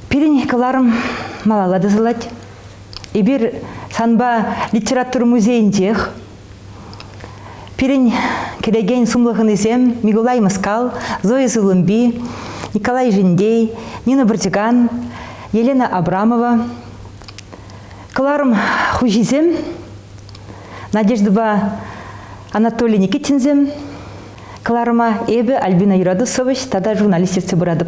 Пирӗн кӑларӑм малалла тӑсӑлать. Эпир санпа литература музейӗнчех. Пирӗн килекен сумлӑ хӑнисем Микулай Мыскал, Зоя Сывлӑмпи, Николай Жиндей, Нина Бортикан, Елена Абрамова. Кӑларӑм хуҫисем Надеждӑпа Анатолий Никитинсем, Кӑларӑма эпӗ Альбина Юратусович тата журналист ертсе пыратӑп.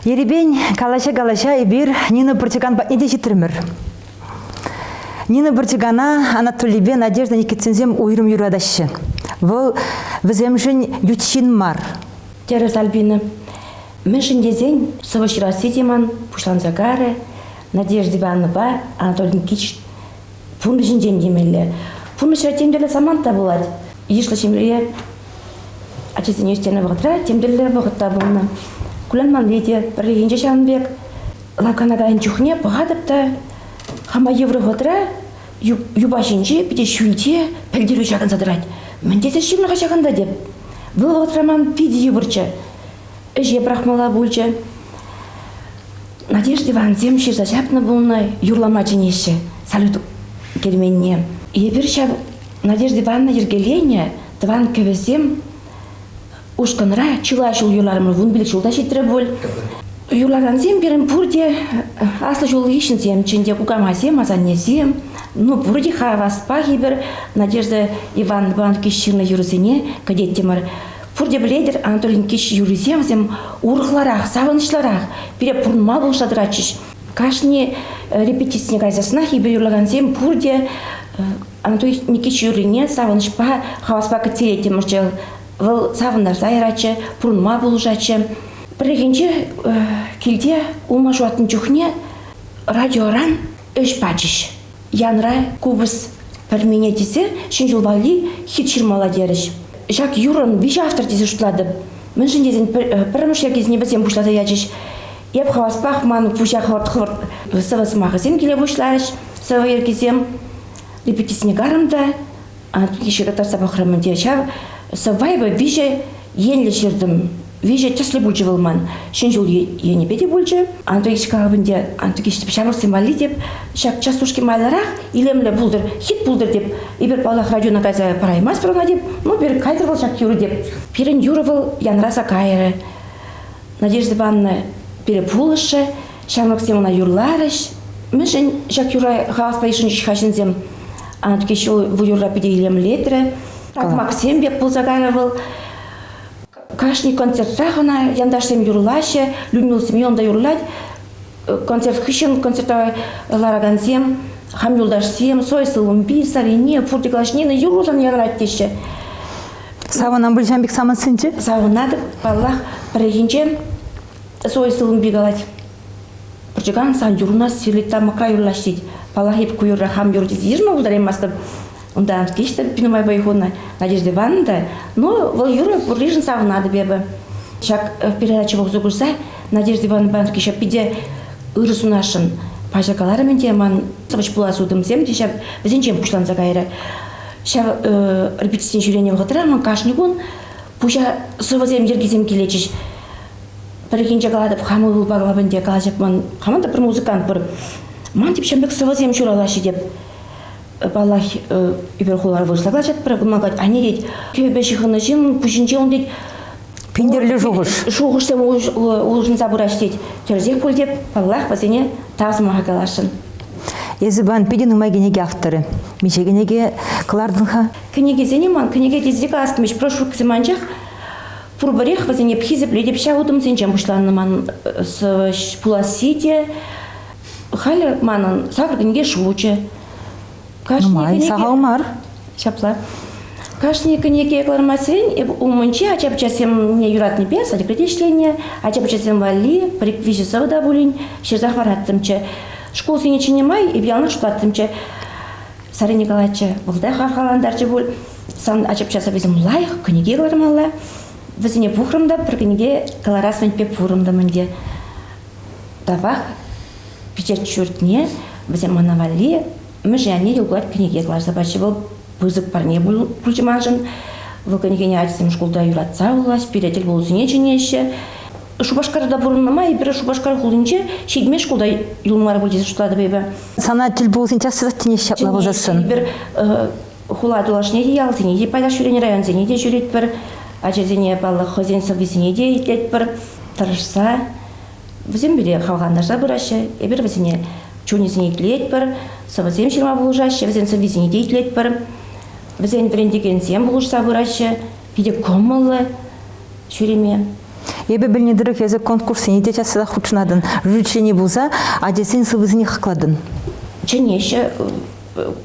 Ерипен калаҫа-калаҫа эпир Нина Пӑрчӑкан патне те ҫитрӗмӗр. Нина Пӑрчӑкана Анатолийпе Надежда Никитсенсем уйрӑм юратаҫҫӗ. Вӑл вӗсемшӗн ют ҫын мар. Терӗс Альбина. Мӗншӗн тесен сӑвӑ ҫырасси те ман пуҫланса карӗ. Надежда Ивановӑпа Анатолий Никитич пурнӑҫӗнчен килмелле. Пурнӑҫра тем тӗрлӗ самант та пулать. Йышлӑ ҫемье ачасене ӳстернӗ вӑхӑтра тем тӗрлӗ вӑхӑт та пулнӑ. Кулянманни те пӗррехинче ҫавӑн пек. Лакана кайнӑ чухне пӑхатӑп та хама йывӑр вӑхӑтра юпа ҫинче, питӗ ҫӳлте пӗлтерӳ ҫакӑнса тӑрать. Мӗн тесен ҫынлӑха ҫакӑнта теп. Вӑл вӑхӑтра ман питӗ йывӑрччӗ. Ӗҫе пӑрахмалла пулчӗ. Надежд Ивансем ҫырса ҫапнӑ пулнӑ, юрлама чӗнеҫҫӗ салют керменне. Эпир ҫав Надежда Ивановна йӗркеленӗ тӑван кӗвӗсем ушкӑнра чылай ҫул юрларӑмӑр, вун пилӗк ҫул та ҫитрӗ пуль. Юрлакансем пирӗн пурте аслӑ ҫул хыҫҫӑнсемччен те кукамасем, асаннесем, ну пурте хаваспах эпир Надежда Ивановна ҫырнӑ юрӑсене кӗтеттӗмӗр. Пурте пӗлетӗр, Анатолин кӗҫ юррисем вӗсем урӑхларах, савӑнӑҫлӑрах, пире пурӑнма пулӑшса тӑратчӗҫ. Кашни э, репетицине кайсассынах эпир юрлакансем пурте э, Анатолий Никитич юррине савӑнӑҫпа, хаваспа кӗттереттӗмӗр Вӑл савӑнтарса яратчӗ, пурӑнма пулӑшатчӗ. Пӗррехинче э, килте улма ҫуратнӑ чухне радиоран ӗҫ пачӗҫ. Янра, купӑс пӗрмине тесе ҫӗн ҫул валли хит ҫырмалла терӗҫ. Ҫак юррӑн виҫӗ автор тесе шутлатӑп. Мӗншӗн тесен пӗрремӗш йӗркесене вӗсем пуҫласа ячӗҫ. Эп хаваспах ман пуҫа хӑвӑрт сӑвӑ сӑмахӗсем киле пуҫларӗҫ. Сӑвӑ йӗркисем репетицине карӑм та икӗ ҫыра татса пӑхрӑмӑр те ҫав савайва виҫӗ енлӗ ҫыртӑм виҫӗ тӗслӗ пулчӗ вӑл ман ҫӗн ҫул енӗпе те пулчӗ антокич калӑпӑн те антокич тӗп ҫамрӑксем валли те ҫак частушки майлӑрах илемлӗ пултӑр хит пултӑр теп эпир паллах радиона кайса параймастпӑр ӑна теп ну пирӗн кайтӑр вӑл ҫак юрӑ теп пирӗн юрӑ вӑл янраса кайрӗ надежда ивановна пире пулӑшрӗ Ҫамрӑксем ӑна юрларӗҫ. Мӗншӗн ҫак юра хаваспа йышӑнчӗҫ-ха ҫынсем? Анатки ҫул bu юрра питӗ илемлетрӗ. Такмаксем пек пулса кайрӗ вӑл. Кашни концертрах ӑна янташсем юрлаҫҫӗ, Людмила Семеновна юрлать. Концерт хыҫҫӑн концертра ларакансем, хам юлташсем, Сой Сылумби, Сарине, Пурте Клашнина юрласан янрать теҫҫӗ. Савӑнам пуль ҫав пек самантсенче? Савӑнатӑп, паллах. Пӗррехинче Свой сывӑмпи калать. Пӑрчӑкан сан юрна сирлет тамӑкра юрлаҫ тет. Паллах, эп ку юрра хам юр тесе йышма пултараймастӑп. Унта виҫтӗр Пинамайпа хунӑ Надежда Ивановна та, ну, вӑл юрӑ пурришӗн савӑнатӑп эпӗ. Ҫак передача пухса курса Надежда Ивановна Пановский ҫав питӗ ырӑ сунасшӑн. Паҫӑр каларӑм ӗнтӗ, ман сӑвӑҫ пулас утӑмсем те ҫав вӗсенчен пуҫланса кайрӗ. Ҫав э, репетицин ҫӳренӗ вӑхӑтра ман кашни кун Пуҫа сӑвӑсем, йӗркисем килетчӗҫ. Пӗррехинче калатӑп, хам ывӑлпа калап ӗнтӗ, калаҫать ман. Хаман та пӗр музыкант пур. Ман тип ҫамрӑк сӑвӑсем ҫуралаҫҫӗ теп. Паллах, ӳпер хулар вырӑсла калаҫать пӗр кӑмакать, анне тет, кӗвӗпе ҫыхӑннӑ ҫын пуҫӗнче ун тет. Пинтерлӗ шухӑш. Шухӑшсем улшӑнса пыраҫ тет. Тӗрӗсех пуль теп, паллах, вӗсене тав сӑмаха каласшӑн. Эсӗ пан питӗ нумай кӗнеке авторӗ. Миҫе кӗнеке кӑлартӑн-ха? Кӗнекесене ман кӗнеке тесе калас прошурксем анчах пурпӗрех вӗсене хисеплетӗп. Ҫав утӑмсенчен пуҫланнӑ ман пуласси те. Халӗ манӑн савӑк инке шучӗ. Нумай, сахал мар. Ҫапла. Кашни кӗнеке кӑлармасен эп умӗнче ача-пӑчасемне юратнипе садикре ӗҫленӗ. Ача-пӑчасем валли виҫӗ сӑвӑ та пулин ҫырса хӑвараттӑмччӗ. Шкул сенӗ чӗне май эп яланах шутлаттӑмччӗ. Саря Николаевича вӑлта хавхалантарчӗ пуль. Сан ачапча сӑввисем лайӑх кӗнеке кӑлармалла. Вӗсене пухрӑм та пӗр кӗнеке кӑларас мӗнпе пурӑнтӑм ӗнтӗ. Тавах пичет ҫуртне вӗсем мана валли мӗшӗ анне юлкар кӗнеке кӑларса пачӗ. Вӑл пысӑк парне пулчӗ маншӑн. Вӑл кӗнекене ачасем шкулта юратса вулаҫ, пире тӗл пулусене чӗнеҫҫӗ. Шупашкарта пурӑннӑ май эпир Шупашкар хулинче ҫитме шкулта юл мар пуль тесе шутлатӑп эпӗ. Сана тӗл пулусен час тинех ҫапла пулсассӑн. Эпир хула тулашне те, ялсене те пайтах ҫӳренӗ, районсене те ҫӳретпӗр. Ачасене, паллах, хӑйсен сӑввисене те итлетпӗр, тӑрӑшса. Вӗсем пире хавхалантарса пыраҫҫӗ. Эпир вӗсене чунӗсене итлетпӗр, сӑвӑсем ҫырма пулӑшаҫҫӗ, вӗсен сӑввисене те итлетпӗр. Вӗсен вӗрентекенсем пулӑшса пыраҫҫӗ. питӗ кӑмӑллӑ ҫӳреме. Эпӗ пӗлнӗ тӑрӑх эсӗ конкурссене те часах хутшӑнатӑн. Жюричени пулса ачасен сыввисене хаклатӑн. Чӗнеҫҫӗ,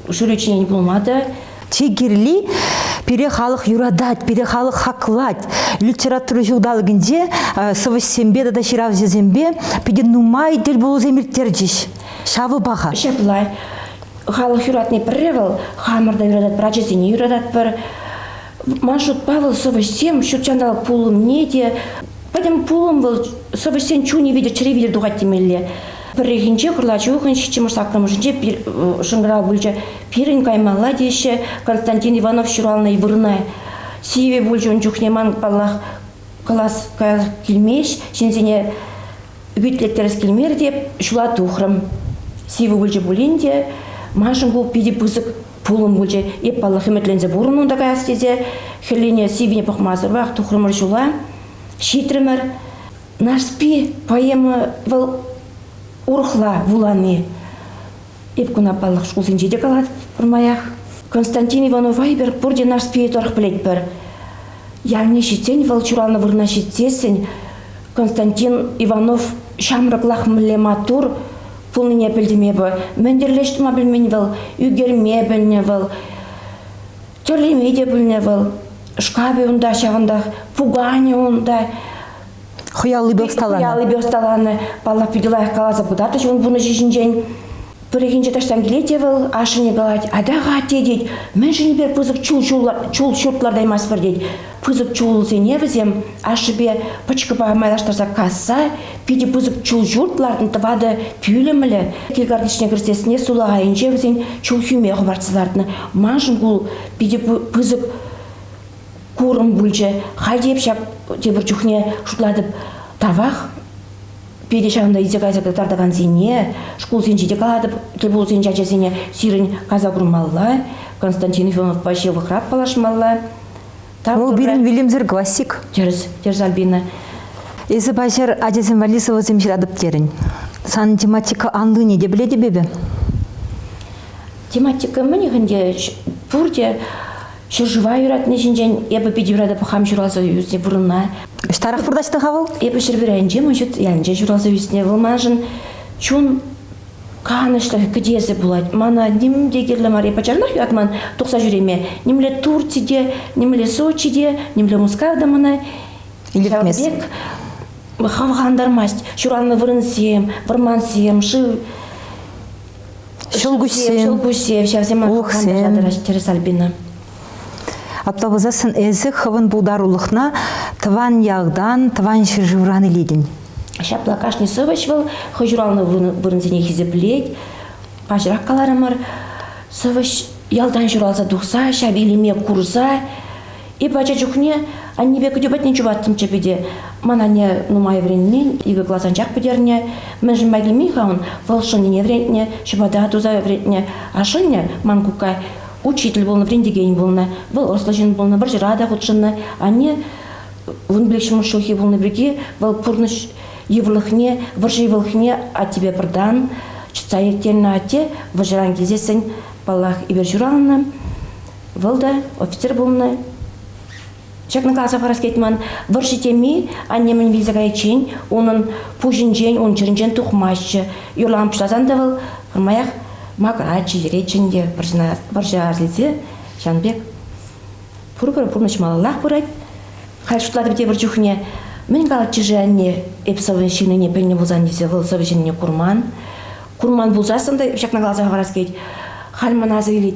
жюри членӗ пулма та. Чи кирли, пире халӑх юратать, пире халӑх хаклать. Литература ҫулталӑкӗнче сӑвӑҫсемпе тата ҫыравҫӑсемпе питӗ нумай тӗл пулусем ирттерчӗҫ. Ҫавӑ паха. Ҫапла. Халӑх юратни пӗрре вӑл, хамӑр та юрататпӑр, ачасене юрататпӑр. Ман шутпа, вӑл сӑвӑҫсем ҫут ҫанталӑк пулӑмне те, пӗтӗм пулӑм вӑл сӑвӑҫсен чунӗ витӗр, чӗри витӗр тухать темелле. Пӗррехинче кӑрлачухӑн ҫиччӗмӗш саккӑрмӗшӗнче пир, шӑнкӑрав пулчӗ. Пирӗн каймалла теҫҫӗ Константин Иванов ҫуралнӑ вырӑна. Сивӗ пулчӗ ун чухне ман, паллах, класс каялла килмест, ҫынсене ӳкӗтлеттерес килмерӗ те ҫула тухрӑм. Сивӗ пулчӗ пулин те, маншӑн ку питӗ пысӑк пулӑм пулчӗ. Эп, паллах, ӗмӗтленсе пурӑннӑ унта каяс тесе. Хӗллене сиввине пӑхмасӑрах тухрӑмӑр ҫула, ҫитрӗмӗр. Нарспи поэма вӑл урӑхла вулани. Эп куна, паллах, шкулсенче те калатӑп пӗрмаях. Константин Иванов Вайбер пурте Нарспие тӑрӑх пӗлетпӗр. Ялне ҫитсен, вӑл ҫуралнӑ вырӑна ҫитсессӗн Константин Иванов ҫамрӑклах мӗнле маттур, пулнине пӗлтӗм эпӗ. Мӗн тӗрлӗ ӗҫ тума пӗлмен вӑл, ӳкерме пӗлнӗ вӑл, тӗрлеме те пӗлнӗ вӑл. Шкапӗ унта ҫавӑнтах, пуканӗ унта. Хӑяллипе ӑсталанӑ. Хӑяллипе ӑсталанӑ. Паллах, питӗ лайӑх каласа кӑтартӑҫ ун пурнӑҫӗ ҫинчен. Пӗррехинче таҫтан килет те вӑл ашшӗне калать, атаха, тет, тет, мӗншӗн эпир пысӑк чул, чул, чул ҫурт лартаймастпӑр, тет. пысӑк чулсене вӗсем ашшӗпе пӑчкӑпа майлаштарса касса питӗ пысӑк чул ҫурт лартнӑ тӑватӑ пӳлӗмлӗ килкартишне кӗртессине сулахайӗнче вӗсен чул хӳме хӑпартса лартнӑ маншӑн ку питӗ пысӑк курӑм пулчӗ халь те эп ҫак тепӗр чухне шутлатӑп тавах Питӗ ҫавӑнта илсе кайса кӑтартакансене, шкулсенче те калатӑп, тӗлпулусенче ачасене сирӗн кайса курмалла, Константин Ивановпа ҫывӑхрах паллашмалла. Вӑл пирӗн вилӗмсӗр классик. Тӗрӗс, тӗрӗс, Альбина. Эсӗ паҫӑр ачасем валли сӑвӑсем ҫыратӑп терӗн. Санӑн тематика анлине те пӗлетӗп эпӗ. Тематика мӗн ӗнтӗ? Пурте Ҫӗршыва юратни ҫинчен эпӗ питӗ юратӑп хам ҫуралса ӳснӗ пурӑна. Ҫтарах вырнаҫнӑ-ха вӑл? Эпӗ Ҫӗрпӳренчи Мӑчӑт ялӗнче ҫуралса ӳснӗ. Вӑл маншӑн чун канӑҫлӑх кӗтесӗ пулать. Мана ним те кирлӗ мар. Эпӗ пачах юратман тухса ҫӳреме. Нимле Турци те, нимле Сочи те, нимле Мускав та мана ҫавӑн хавхалантармасть. Ҫуралнӑ вырӑнсем, вӑрмансем, шыв Ҫӑлкуҫсем, ҫӑлкуҫсем ҫавсем улӑхсем, терӗ Сальбина. Апла пулсассӑн эсӗ хӑвӑн пултарулӑхна тӑван ялтан, тӑван ҫӗршывран илетӗн. Ҫапла кашни сӑвӑҫ вӑл хӑй ҫуралнӑ вырӑнсене хисеплет. Паҫӑрах каларӑмӑр, сӑвӑҫ ялтан ҫуралса тухса ҫав илеме курса Эпӗ ача чухне аннепе кӗтӳ патне чупаттӑмччӗ пӗте. Ман анне нумай вӗренмен, икӗ класс анчах пӗтернӗ. Мӗншӗн май килмен-ха ун? Вӑл шӑннине вӗрентнӗ, ҫӑпата туса вӗрентнӗ. А шӑннӗ ман кукка учитель пулнӑ, вӗрентекен пулнӑ. Вӑл ӑслӑ ҫын пулнӑ, вӑрҫӑра та хутшӑннӑ. Анне вун пилӗк ҫумӑр ҫулхи пулнӑ пирки вӑл пурнӑҫ йывӑрлӑхне, вӑрҫӑ йывӑлӑхне аттепе пӑртан чӑтса ирттернӗ. Атте вӑрҫӑран килсессӗн, паллах, эпир ҫуралнӑ. Вӑл та офицер пулнӑ. Ҫакна каласа парас килет ман. Вӑрҫӑ теми аннемӗн вилсе кайиччен унӑн пуҫӗнчен, ун чӗринчен тухмаҫҫӗ. Юрлама пуҫласан та вӑл пӗрмаях макраччӗ, йӗретчӗ ӗнтӗ вӑрҫа арсилсе. Ҫавӑн пек пурпӗр пурнӑҫ малаллах пырать. Халь шутлатӑп тепӗр чухне мӗн калатчӗ-ши анне эп сӑвӑ ҫырнине пӗлнӗ пулсан тесе вӑл сӑвӑ ҫырнине курман. Курман пулсассӑн та ҫакна каласа парас килет. Халь ман асӑ илет